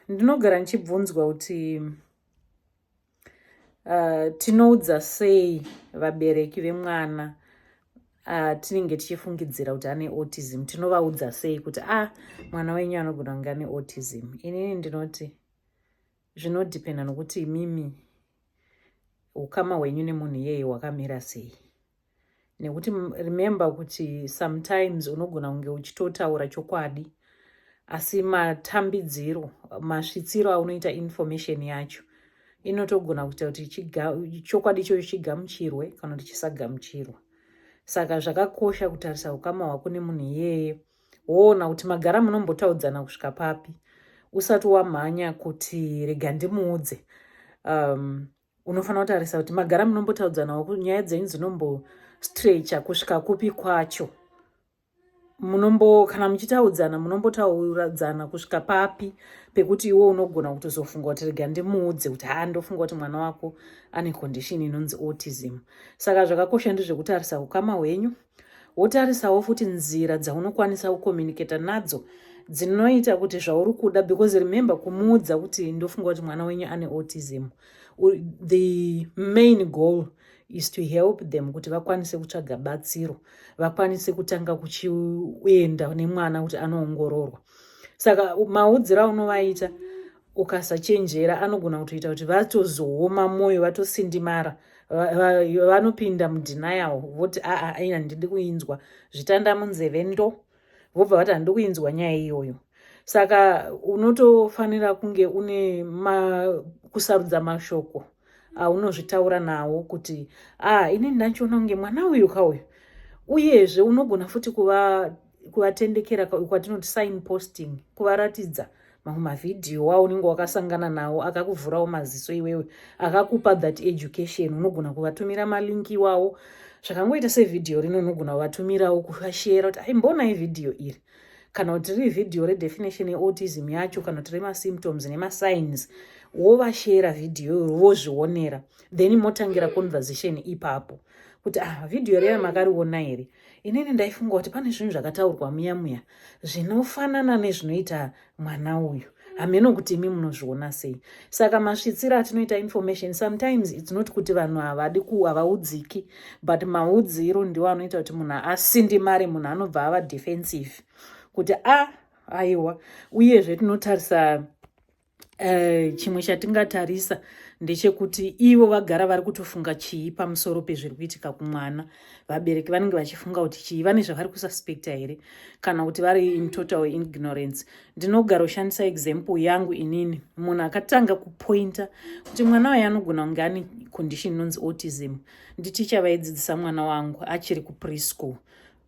ndinogara ndichibvunzwa kuti uh, tinoudza sei vabereki vemwana uh, tinenge tichifungidzira kuti ane autism tinovaudza sei kuti a ah, mwana wenyu anogona kunge ane autism inini ndinoti zvinodhipenda nokuti imimi ukama hwenyu nemunhu iyeye hwakamira sei nekuti remember kuti sometimes unogona kunge uchitotaura chokwadi asi matambidziro masvitsiro aunoita information yacho inotogona kuita kuti chokwadi ichocho chigamuchirwe kana kuti chisagamuchirwa saka zvakakosha kutarisa ukama hwako nemunhu iyeye woona kuti magara munombotaudzana kusvika papi usati wamhanya kuti rega ndimuudze um, unofanira kutarisa kuti magara munombotaudzanawo kuti nyaya dzenyu dzinombostrecha kusvika kupi kwacho munombo kana muchitaudzana munombotaudzana kusvika papi pekuti iwe unogona kutozofunga kuti rega ndimuudze kuti haa ndofunga kuti mwana wako ane condition inonzi autism saka zvakakosha ndezvekutarisa ukama hwenyu wotarisawo futi nzira dzaunokwanisa kucommunicata nadzo dzinoita kuti zvauri kuda because remember kumuudza kuti ndofunga kuti mwana wenyu ane autism the main goal is to help them kuti vakwanise kutsvaga batsiro vakwanise kutanga kuchienda nemwana kuti anoongororwa saka maudzira unovaita ukasachenjera anogona kutoita kuti vatozooma mwoyo vatosindimara vanopinda mudenial voti aa aina ndidi kuinzwa zvitanda munzeve ndo vobva vati handidi kuinzwa nyaya iyoyo saka unotofanira kunge une ma, kusarudza mashoko aunozvitaura nawo kuti aa ini ndachiona kunge mwana uyu ka uyu uyezve unogona futi kuva kuvatendekera kwatinoti sign posting kuvaratidza mamwe mavhidhiyo wawo unenge wakasangana nawo akakuvhurawo maziso iwewe akakupa that education unogona kuvatumira malinki iwawo zvakangoita sevhidhiyo rino unogona kuvatumirawo kuvashera kuti aimbonai vhidhiyo iri kana kuti riri vhidhiyo redefinition yeautism yacho kana kuti remasymptoms nemasigns wovashera vhidhiyo iro vozvionera then motangira conversation ipapo kuti ah vhidhiyo reya makarionaa here inini ndaifunga kuti pane zvinhu zvakataurwa muya muya zvinofanana nezvinoita mwana uyu hameno kuti imi munozviona sei saka masvitsira atinoita information sometimes its not kuti vanhu havadi ku havaudziki but maudziro ndiwo anoita kuti munhu asindimare munhu anobva ava defensive kuti a ah, aiwa uyezve tinotarisa Eh, chimwe chatingatarisa ndechekuti ivo vagara vari kutofunga chii pamusoro pezviri kuitika kumwana vabereki vanenge vachifunga kuti chii vane zvavari kususpecta here kana kuti vari in total ignorance ndinogara ushandisa example yangu inini munhu akatanga kupointa kuti mwana waye anogona kunge ane condition inonzi autism nditicha vaidzidzisa mwana wangu achiri kupreschool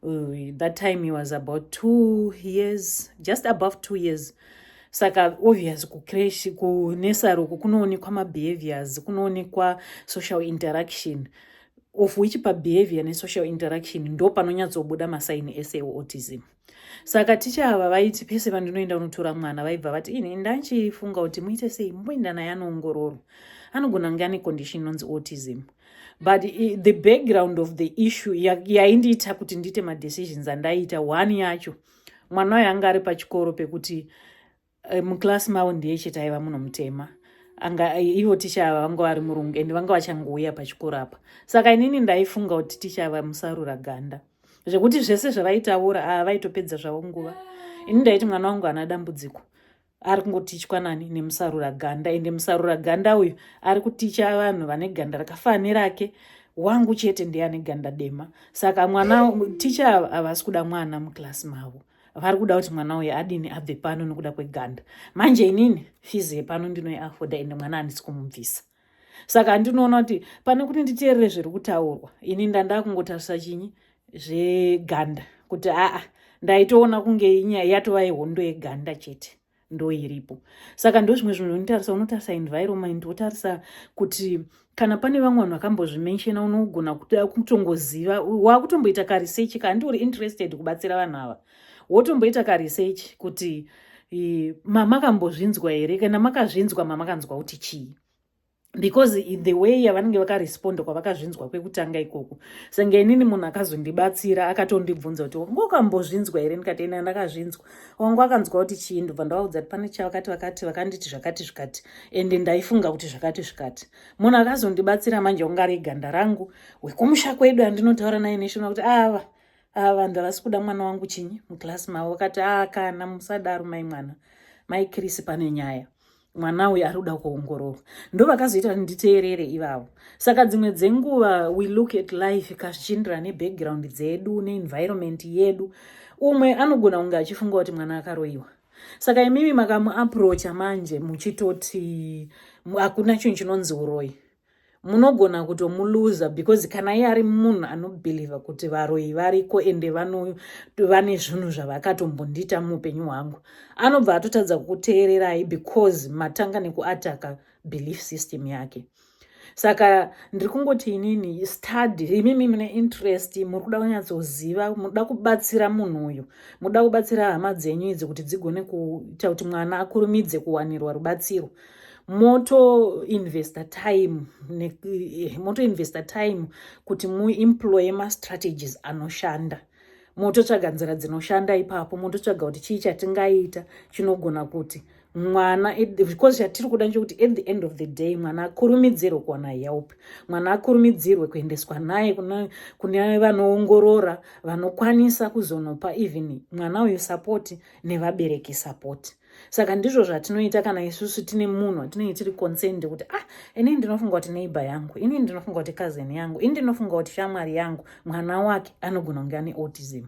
Uh, that time he was about two years just above two years saka obvious kucrash kunesaroko kunoonekwa mabehaviors kunoonekwa social interaction of which pabehavior nesocial interaction ndo panonyatsobuda masaini ese eautism saka ticha ava vaiti pese vandinoenda unotora mwana vaibva vati ini ndachifunga kuti muite sei mumboenda naye anoongororwa anogona kunge ane condition inonzi autism but the background of the issue yaindiita ya kuti ndiite madecisions andaiita one yacho mwana wayo anga ari pachikoro pekuti eh, muclass mavo ndiye chete aiva muno mutema anga eh, ivo ticha ava vanga vari murungu and vanga vachangouya pachikoro apa saka inini ndaifunga kuti ticha ava musarura ganda zvekuti zvese zvavaitaura ava ah, vaitopedza zvavo nguva ini ndaiti mwana wangu ana dambudziko ari kungotichwa nani nemusarura ganda ende musarura ganda uyu ari kuticha vanhu vane ganda rakafana nerake wangu chete ndiye ane ganda dema saka mwana ticha havasi kuda mwana muclass mavo vari kuda kuti mwana uyu adini abve pano nokuda kweganda manje inini fizi yepano ndinoiafoda ende mwana handisi kumubvisa saka handinoona kuti pane kuti nditeerere zviri kutaurwa ini ndandakungotarisa chinyi zveganda kuti aa ndaitoona kunge inyaya yatova yehondo yeganda chete ndoiripo saka ndozvimwe zvinhu zvinotarisa unotarisa environment wotarisa kuti kana pane vamwe vanhu vakambozvimenshena unogona kutongoziva wakutomboita karesearch ka handiuri interested kubatsira vanhu ava wotomboita karesearch kuti mamakambozvinzwa here kana makazvinzwa mamakanzwa kuti chii because the way yavanenge vakaresponda kwavakazvinzwa kwekutanga ikoko senge inini munhu akazondibatsira akatondibvunza kuti wangu wakambozvinzwa here ndikati ina ndakazvinzwa wangu akanzwa kuti chii ndobva ndavaudza kuti pane chavakati vakati vakanditi zvakati zvikati ende ndaifunga kuti zvakati zvikati munhu akazondibatsira manje ungariganda rangu wekumusha kwedu andinotaura naye neshona kuti ava ah, ava ah, vanhu havasi kuda mwana wangu chinyi muclass mavo vakati aa ah, kana musadaro mai mwana mai krisi pane nyaya mwana uyu ari kuda kuongororwa ndo vakazoita nditeerere ivavo saka dzimwe dzenguva we look at life kazvichienderana nebackground dzedu neenvironment yedu umwe anogona kunge achifunga kuti mwana akaroyiwa saka imimi makamuaprocha manje muchitoti hakuna chinhu chinonzi uroyi munogona kutomuluza because kana iye ari munhu anobhilivha kuti varoyi variko ende vano vane zvinhu zvavakatombondiita muupenyu hwangu anobva atotadza kukuteererai because matanga nekuataka belief system yake saka ndiri kungoti inini study imimi mune interest muri kuda kunyatsoziva muda kubatsira munhu uyu muda kubatsira hama dzenyu idzi kuti dzigone kuita kuti mwana akurumidze kuwanirwa rubatsiro moto investor time ne, eh, moto investor time kuti muemploye mastrategies anoshanda mototsvaga nzira dzinoshanda ipapo mototsvaga kuti chii chatingaita chinogona kuti mwana because chatiri kuda nchekuti at the end of the day mwana akurumidzirwe kuwana help mwana akurumidzirwe kuendeswa naye kune vanoongorora vanokwanisa kuzonopa even mwana uyu sapoti nevabereki sapoti saka ndizvo zvatinoita kana isusu tine munhu atinenge tiri concerned kuti ah inini ndinofunga kuti neighbor yangu inini ndinofunga kuti cousin yangu ini ndinofunga kuti shamwari yangu mwana wake anogona kunge ane autism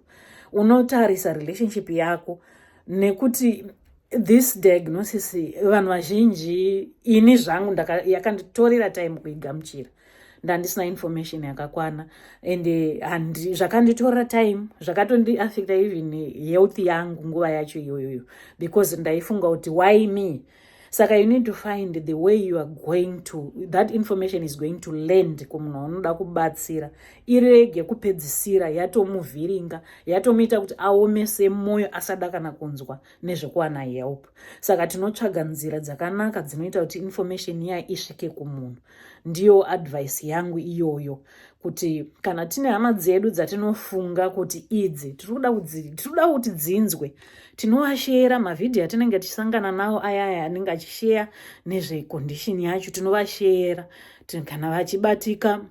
unotarisa relationship yako nekuti this diagnosis vanhu vazhinji ini zvangu yakanditorera time kuigamuchira ndandisina information yakakwana and eh, zvakanditorera time zvakatondiaffecta even health yangu nguva yacho iyoyoyo because ndaifunga kuti why me saka you need to find the way you are going to that information is going to land kumunhu anoda kubatsira irege kupedzisira yatomuvhiringa yatomuita kuti aomese mwoyo asada kana kunzwa nezvekuwana help saka tinotsvaga nzira dzakanaka dzinoita kuti information iya isvike kumunhu Ndiyo advice yangu iyoyo kuti kana tine hama dzedu dzatinofunga kuti idzi tiri kuda kuti dzinzwe tinovashera mavhidhiyo atinenge tichisangana nawo aya aya anenge achisheya nezvekondishini yacho tinovashera kana vachibatika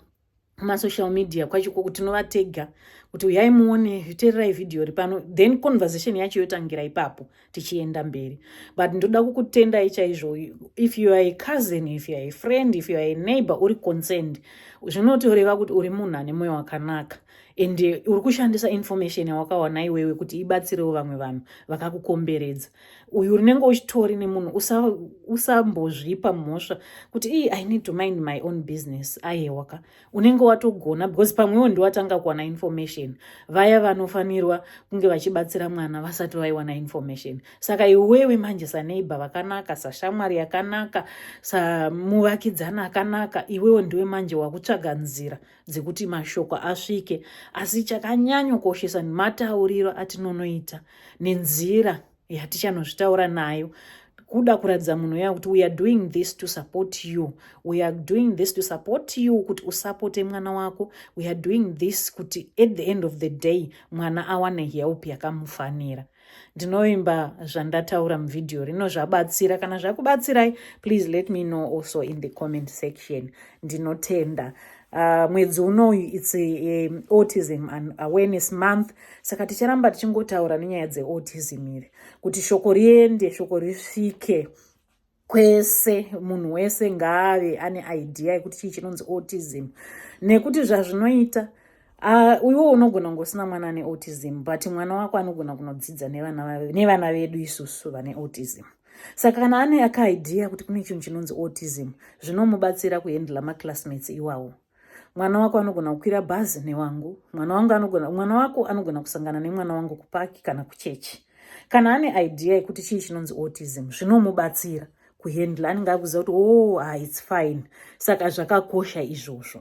kumasocial media kwacho koko tinova tega kuti uyai muone tererai vhidhiyo ri pano then conversation yacho yotangira ipapo tichienda mberi but ndoda kukutendai chaizvo if you are a cousin if you are a friend if you are a neighbor uri concerned zvinotoreva kuti uri munhu ane mwoyo wakanaka and uri kushandisa information yawakawana iwewe kuti ibatsirewo vamwe vanhu vakakukomberedza uyu unenge uchitori nemunhu usambozvipa usa mhosva kuti ii i need to mind my own business ayewaka unenge watogona because pamwewo ndiwatanga kuwana information vaya vanofanirwa kunge vachibatsira mwana vasati vaiwana information saka iwewe manje saneighbor vakanaka sashamwari yakanaka samuvakidzani akanaka iwewo ndiwe manje wakutsvaga nzira dzekuti mashoko asvike asi chakanyanyokoshesa nematauriro atinonoita nenzira yatichanozvitaura nayo kuda kuratidza munhu uya kuti weare doing this to support you weare doing this to support you kuti usapote mwana wako weare doing this kuti at the end of the day mwana awane help yakamufanira ndinovimba zvandataura muvhidhiyo rino zvabatsira kana zvakubatsirai please let me know also in the comment section ndinotenda uh, mwedzi unoyu its um, autism and awareness month saka ticharamba tichingotaura nenyaya dzeautism iri kuti shoko riende shoko risvike kwese munhu wese ngaave ane idea yekuti chii chinonzi autism nekuti zvazvinoita ah, iwo unogona kunge usina mwana ane autism but mwana wako anogona kunodzidza nevana vedu isusu vane autism saka kana ane akaidea kuti kune chinhu chinonzi autism zvinomubatsira kuhendla maclassmates iwawo mwana wako anogona kukwira bhazi newangu mwana wangu anogona mwana wako anogona kusangana nemwana wangu kupaki kana kuchechi kana ane idea yekuti chii chinonzi autism zvinomubatsira kuhendla anenge akuziva kuti o oh, ah, its fine saka zvakakosha izvozvo